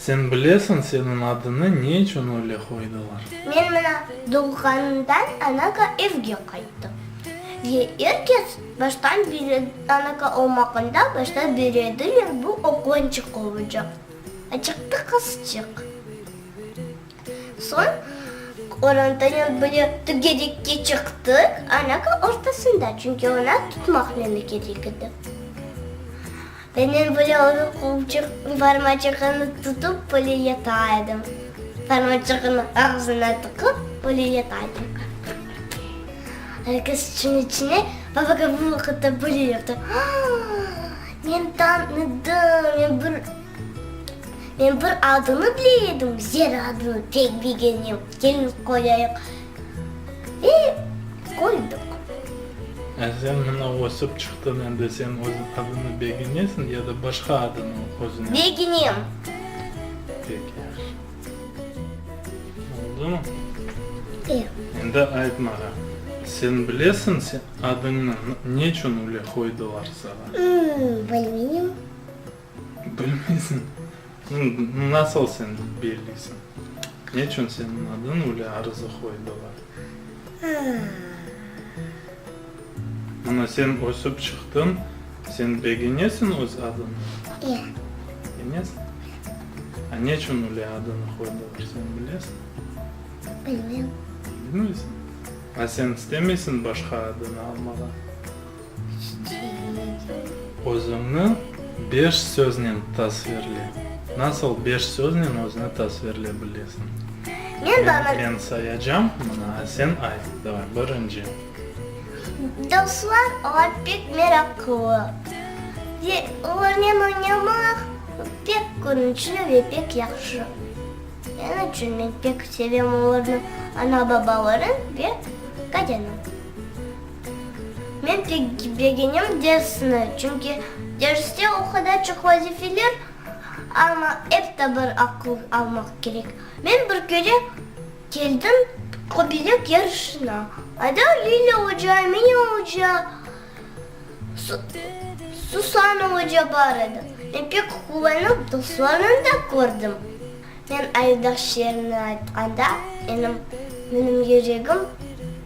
Sen bilesiñ, seniñ adını ne içün öyle qoydılar? Men mına doğğanımdan anaga evge qayttım. Ve er kes baştan bire, anaga olmağanda baştan birediler, bu oğlançıq olacaq, açıqtı qızçıq. Soñ orantanyon bile tügerekke çıqtı, anaka ortasında, çünki ona tutmaq mümkünlik edi. Menem bile onı qolçıq, barmacığını tutıp bile yata edim. Barmacığını ağzına tıqıp bile yata edim. Herkes içine içine babaga bu vaqıtta bile yaptı. Aa! Men tanıdım, men bir. Men bir adını bile edim, Zera adını pek begenem. Kelin qoyayıq, ve qoydıq. Yani sen mına ösip çıqtın, endi sen öz adını begenesiñ ya da başqa adını özüne? Begenem. Pek yahşı. Oldumı? E. Endi ayt maña, sen bilesiñ sen adıñnı ne içün üyle qoydılar saña? Bilmeyim. Bilmeysiñ? Nasıl sen belleysiñ? Ne içün seniñ adıñ üle arıza qoydılar? Mına sen ösip çıqtıñ, sen begenesiñ öz adıña? İe. Begenesiñ? A ne içün üle adıñı qoydılar, sen bilesiñ? Bilmeyim. Bilmeysiñ? A sen istemeysiñ başqa adıñı almağa? Özüñni beş söznen tasvirle. Nasıl beş söznen özüni tasvirlep bilesiñ? Men baba. Men sayacam, mına, a sen ayt. Davay, birinci. Dostlar, olar pek meraqlı. Ve olarnen oynamaq pek quvnıçlı ve pek yahşı. Şunıñ içün men pek sevem olarnı, ana-babalarnı ve Katyanı. Men tecrübegenim dersni, çünki derste o qadar çoq vazifeler, amma ep ta bir aqıl almaq kerek. Men bir kere keldim qobilek yarışına. Ada Lilâ oca, Mine oca, Susana oca bar edi. Men pek quvanıp, dostlarnı da kördim. Men Aydaş şiirini aytqanda, menim yüregim.